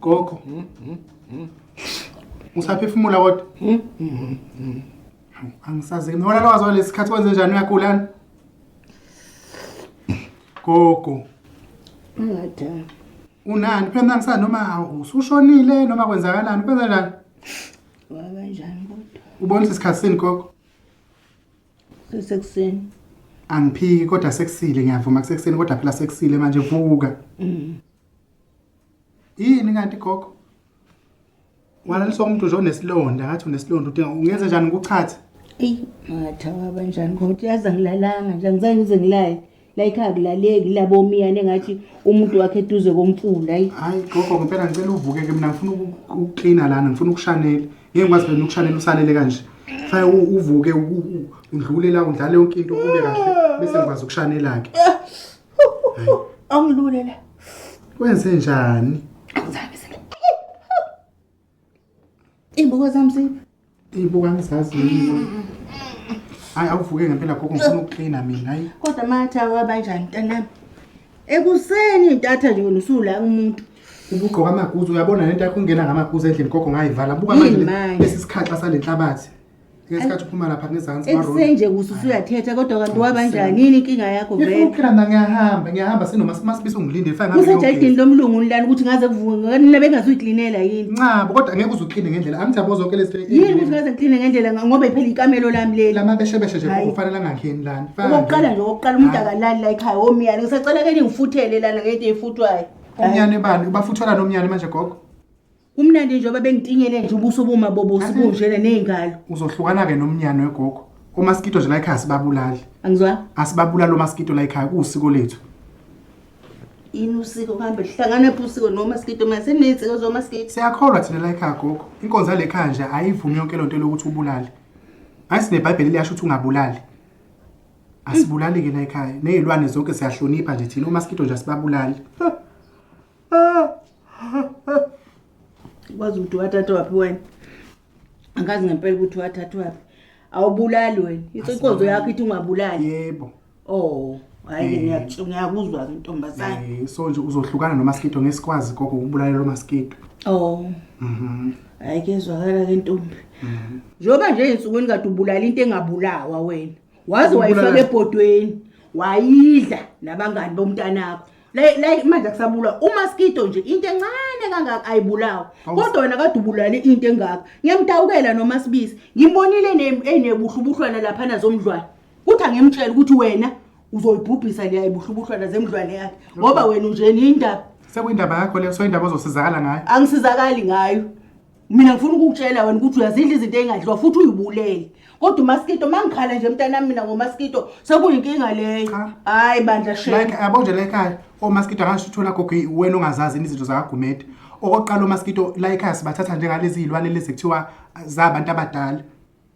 Gogo. Usaphefumula kodwa? Angisazi ke nona lwazo lesikhathi kwenze njani uyagulana? Gogo. Ungadala. Unani phela ngisana noma usushonile noma kwenzakalani kwenza njani? Wakanjani kodwa? Ubonisa isikhathi sini gogo? Sekuseni. Angiphiki kodwa sekusile ngiyavuma kusekuseni kodwa phela sekusile manje vuka. Mhm. yini kanti gogo walaliswa umuntu nje onesilonda ngathi unesilonda udinga ungenze njani ngikuchathe eyi ngatha waba njani kodwa yazi angilalanga nje angizange ngize ngilaye la ikhaya kulaleki labomiyane ngathi umuntu wakhe eduze komfula ayi hayi gogo ngempela ngicela uvuke ke mina ngifuna ukuklina lana ngifuna ukushanela ngeke ngikwazi phela ukushanela usalele kanje faya uvuke udlule la udlale yonke into kube kahle bese ngikwazi ukushanela-ke Angilule la. Wenze njani? Angizange sele. Imbuko zami ziphi? Imbuko angizazi yini. Hayi awuvuke ngempela gogo ngifuna ukuklina mina hayi. Kodwa matha wabanjani mntanami? Ekuseni intatha nje wena usula umuntu. Ubugqoka amaguzu uyabona lento yakho ungena ngamaguzu endlini gogo ngayivala. Buka manje lesi sikhaxa salenhlabathi. ngesikhathi uphuma lapha ngezansi esenje kuthi usuyathetha kodwa kanti wabanjani yini inkinga yakho ngifuna vele ukuphila mna ngiyahamba ngiyahamba sinoma simasibisa ungilindele fake ngabe usejayidini lomlungu ulani ukuthi ngaze kuvuke nina bengazuyiklinela yini ncabo kodwa angeke uze ukline ngendlela angithi yabo zonke lezi yini ukuthi ngaze ngikline ngendlela nga- ngoba iphela ikamelo lami leli lama beshebeshe nje Hhayi. kufanele angangeni lana Faka okokuqala nje okokuqala umuntu Hhayi. akalali la ekhaya omyane ngisacela ke ningifuthele lana ngento eyifuthwayo Hhayi. omnyane bani ubafuthelani omnyane manje gogo Kumnandi njengoba bengitinyele nje ubuso buma bobosi bunjena nezingalo. Uzohlukana ke nomnyano wegogo. Omaskito nje la ekhaya sibabulali. Angizwa? Asibabulali omaskito la ekhaya kuusiko lethu. Yini usiko kambe lihlangana phi usiko nomaskito mase nezinsiko zomaskito? Siyakholwa thina la ekhaya gogo. Inkonzo yale ekhaya nje ayivumi yonke lonto lokuthi ubulale. Hayi sineBhayibheli liyasho ukuthi ungabulali. Asibulali ke la ekhaya. Nezilwane zonke siyahlonipha nje thina omaskito nje asibabulali. kwazi ukuthi wathatha waphi wena angazi ngempela ukuthi wathatha waphi awubulali wena inkonzo yakho ithi ungabulali yebo oh hayi eh. ngiyakutshela ngiyakuzwa ke ntombazane eh, so nje uzohlukana nomaskito ngesikwazi koko ukubulala lo maskito oh mhm hayi kezwakala ke ntombi mhm. njengoba nje ensukwini kade ubulala into engabulawa wena waze wayifaka ebhodweni wayidla nabangani bomntanakho like like manje kusabulwa umaskito nje into encane kangaka ayibulawa kodwa wena kade ubulale into engaka ngiyamtawukela noma sibisi ngimbonile enebuhlubuhlwana lapha nazomdlwana kuthi angimtshela ukuthi wena uzoyibhubhisa leya ibuhlubuhlwana zemdlwana yakhe ngoba wena unjeni indaba sekuyindaba yakho leyo soyindaba ozosizakala ngayo angisizakali ngayo mina ngifuna ukukutshela wena ukuthi uyazidla izinto ey'ngadliwa futhi uyibulele kodwa umaskito uma ngikhala nje mntanami mina ngomaskito sekuyinkinga leyo hhayi bandla like yabo nje la ekhaya omaskito angasho uthola gogo wena ongazazi izinto zakagumede okokuqala omaskito la ekhaya sibathatha njengalezi iy'lwane lezi kuthiwa zabantu abadala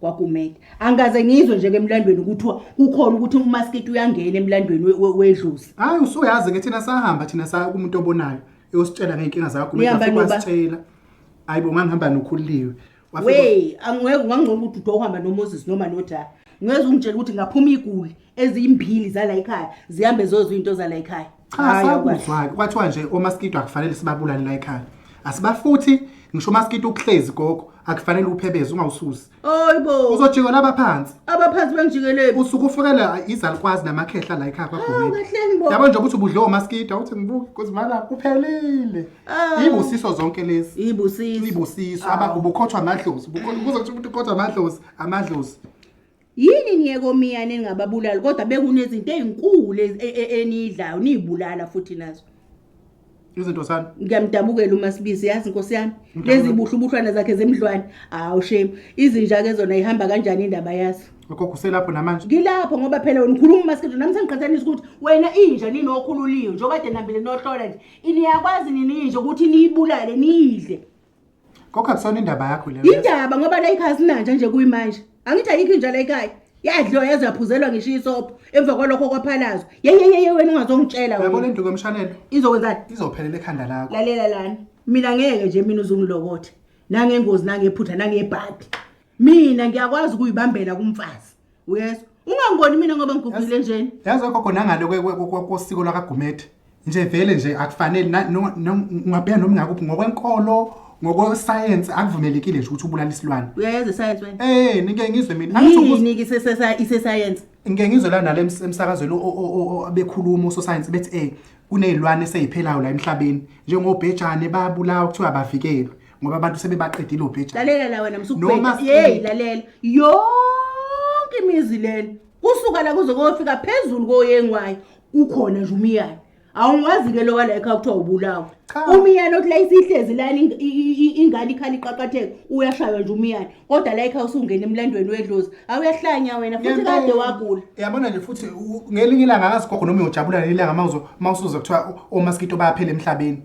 kwagumede angikaze ngizwe nje emlandweni kuthiwa kukhona ukuthi umasketi uyangena emlandweni we- we- wedlozi hayi usuyazi ke thina sahamba thina saya kumuntu obonayo eyositshela ngey'nkinga zakho Nihamba noba? wasitshela hhayi bo ngangihamba nokhuliwe Wafika- we angeke ungangcono ukuthi ude uhamba nomoses noma nojaha ngeze ungitshela ukuthi ngaphuma iguli eziyimbili zala yikhaya zihambe zozwa iy'nto zala yikhaya cha Hhayi, sakuzwa-ke kwathiwa nje omaskito akufanele sibabulale la ekhaya asibafuthi ngisho umaskito ukuhlezi gogo akufanele uphebeze ungawususi Hayi bo. uzojika laba phansi Abaphansi bengijikeleni. usuke ufukelwa izalukwazi namakhehla la ekhaya Hawu kwagumeni kahleni bo. yabo nje ukuthi ubudle omaskito awuthi ngibuke kuzimana kuphelile Awu. ibusiso zonke lezi Ibusiso. ibusiso aba ubukhothwa amadlozi Ubukho- kuzokuthi umuntu ukhothwa amadlozi amadlozi Yini niyekomiya ningababulali kodwa bekunezinto ezinkulu e, e, enidlayo nizibulala futhi nazo. Izinto sani? Ngiyamdabukela uma sibizi yazi Nkosi yami. Lezi buhlubuhlwana zakhe zemdlwane. Hawu shame. Izinja ke zona ihamba kanjani indaba yazo? Lokho kuselapho namanje. Ngilapho ngoba phela wena ukhuluma masikhethu nami sengiqhathanisa ukuthi wena inja nini okhululiwe njengoba de nambile nohlola nje. Iniyakwazi nini inja ukuthi niyibulale niyidle. Kokha kusona indaba yakho le. Indaba ngoba la ikhaya sinanja nje kuyimanje. Angithi ayikho inja la ekhaya. Yadliwa yaze yaphuzelwa ngisho isopho emva kwalokho kwaphalazwa. Yeyeyeye wena ungazongitshela Yabo wena. lenduku emshanelo Izokwenzani? izophelela ekhanda lakho. Lalela lana. Mina ngeke nje mina uzungilokothe. Nangengozi nangephutha nangebhadi. mina ngiyakwazi ukuyibambela kumfazi uyezwa ungangiboni mina ngoba ngigugile njeni yazi ogogo nangale kosiko lwakagumede nje vele nje akufanele ungabheka noma ngakuphi ngokwenkolo ngokwesayensi akuvumelekile nje ukuthi ubulala isilwane uyayenza isayensi wena eh nike ngizwe mina yini ke sesesa isesayensi ngike ngizwe lana le emsakazweni obekhuluma usosayensi bethi eh kunezilwane eseyiphelayo la emhlabeni njengobhejane babulawa kuthiwa abavikelwe ngoba abantu sebebaqedile obheja lalela la wena msukubheka yeyi lalela yonke imizi lena kusuka la kuze kofika phezulu koyengwayo ukhona nje umiyane awungwazi-ke lowa la ekhaya kuthiwa ubulawa umiyane othi la isihlezi lani ingane ikhala iqaqatheka uyashaywa nje umiyane kodwa la ekhaya usungena emlandweni wedlozi awuyahlanya wena futhi kade wagula yabona nje futhi ngelinye ilanga akazigogo noma uyojabula ngelinye ilanga ma usuze kuthiwa omaskito bayaphela emhlabeni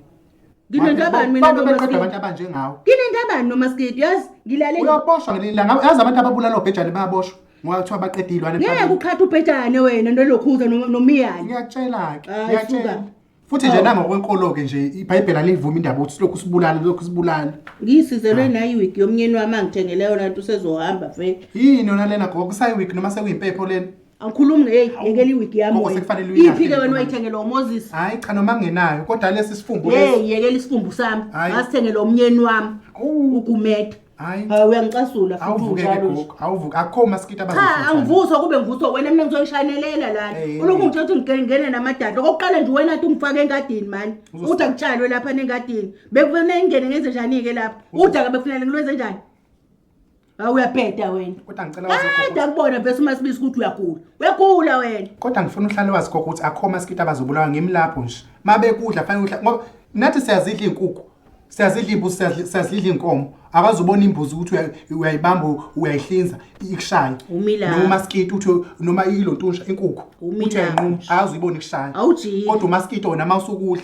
nginento abani mina Bonke beqeda nomaskidi abantu abanjengawe nginento abani nomaskidi yazi ngilale uyaboshwa ngelinye ilanga yazi abantu ababulala obhejane bayaboshwa ngoba kuthiwa baqeda iy'lwane ngeke emhlabeni. uqhatha ubhejane wena nolokhuza no- nomiyane ngiyakutshela-ke Hayi, ngiyakutshela suka. futhi nje Awu. nangokwenkolo-ke nje ibhayibheli aliyivumi indaba ukuthi silokhu sibulala lokhu sibulala ngiyisizelwe nayi wigi yomnyeni wami angithengele yona nto usezohamba vele yini yona lena gogo kusayiwiki noma sekuyimpepho lena awukhulumi ngeyi Hawu, yekela iwigi yami gogo, wena. sekufanele uyilahle iphi-ke wena intombi. wayithengela umoses hayi cha noma ngenayo kodwa lesi sifumbu lesi yeyi yekela isifumbu sami Hhayi. ngasithengela umnyeni wami Awu, ugumede hhayi hayi uyangicasula futhi awuvukeke unjalo nje. gogo awuvuke akho maskiti cha abazofuthana. angivuswa kube ngivuswa wena mina ngizoyishanelela lana Eh, eh, ulokhu eh. ngitshela ukuthi ngigene- ngene namadada okokuqala nje wena ti ungifake engadini mani Uzosi- uda kutshalwe lapha nengadini bekufanele ngingene ngenze njani-ke lapha uda-ke bekufanele ngilwenze njani Hawu uyabheda wena. Kodwa ngicela wazi gogo. Ada kubona vese uma sibisi ukuthi uyagula. Uyagula wena. Kodwa ngifuna uhlale wazi gogo ukuthi akho maskita abazobulawa ngimlapho nje. Mabekudla fanele udla ngoba nathi siyazidla inkukhu. Siyazidla imbuzi siyazidla- siyazidla inkomo. Akazubona imbuzi ukuthi uya- uyayibamba uyayihlinza ikushaya. Umila. Noma maskita uthi noma ilontusha inkukhu. Umila. Uthi uyayinquma akazuyibona ikushaya. Awujiki. Kodwa umaskita wona mawusukudla.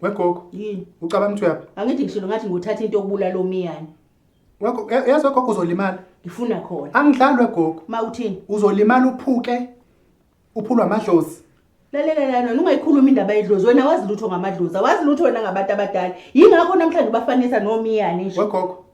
wegogo yini ucabanga ukuthi uyaphi angithi ngishilo ngathi nguthatha into okubulala omiyane Wego- ya- yazi wegogo uzolimala ngifuna khona angidlali wegogo ma uthini uzolimala uphuke uphulwa amadlozi lalela lana ungayikhuluma indaba yedlozi wena wazi lutho ngamadlozi awazi lutho wena ngabantu abadala yingakho namhlanje ubafanisa nomiyane nje wegogo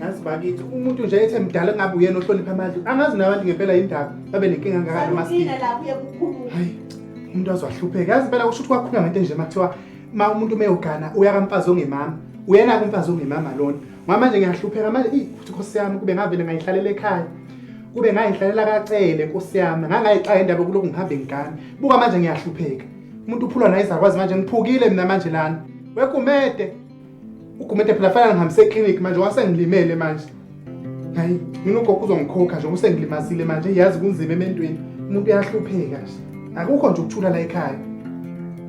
Yazi bakithi umuntu nje ethe mdala ngabe uyena ohlonipha amadlu. Angazi nabantu ngempela indaba babe nenkinga ngakani maskini. Mina la kuye kukhuluma. Hayi. Umuntu azohlupheka. Yazi phela usho ukuthi kwakhuluma ngento nje makuthiwa ma umuntu meyogana uya kamfazi ongemama. Uyena kumfazi ongemama lona. Mama nje ngiyahlupheka manje ey futhi Nkosi yami kube ngavele ngayihlalela ekhaya. Kube ngayihlalela kacele Nkosi yami. Ngangayixaye indaba kuloko ngihambe ngigane. Buka manje ngiyahlupheka. Umuntu uphulwa nayizakwazi manje ngiphukile mina manje lana. Wegumede Ugumente phela fanele ngihambise eclinic manje wasengilimele manje. Hayi, mina ugogo uzongikhokha nje usengilimazile manje yazi kunzima ementweni. Umuntu uyahlupheka nje. Akukho nje ukuthula la ekhaya.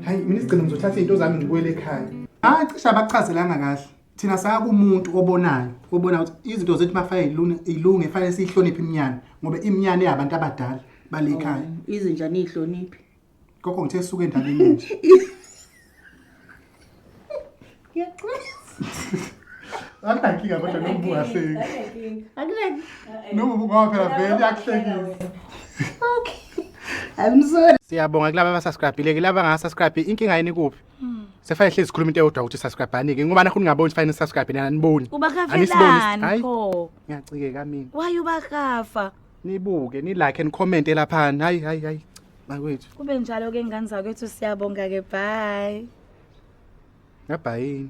Hayi, mina isigcino ngizothatha izinto zami ngibuyele ekhaya. Hayi cishe abachazelanga kahle. Thina saya kumuntu obonayo, obona ukuthi izinto zethu mafanele ilunge, ilunge fanele siyihloniphe iminyane ngoba iminyane yabantu abadala bale ekhaya. Izinja niyihloniphi. Gogo ngithe suke endabeni nje. Akunankinga kodwa noma ungahleki. Noma ngoba phela vele iyakuhlekisa. Okay. I'm sorry. Siyabonga kulabo abasubscribe-ile kulabo abangasubscribe inkinga yini kuphi? Sefane hlezi sikhuluma into eyodwa ukuthi subscribe-ani-ke ngoba nakho ningaboni ukuthi fanele subscribe nina aniboni. Anisibonis- Ubakafelani Hayi, pho? Ngiyacikeka mina. Why ubakafa? nibuke nilike and comment elaphani hayi hayi hayi makwethu kube njalo ke ngane zakwethu siyabonga ke bye ngabhayini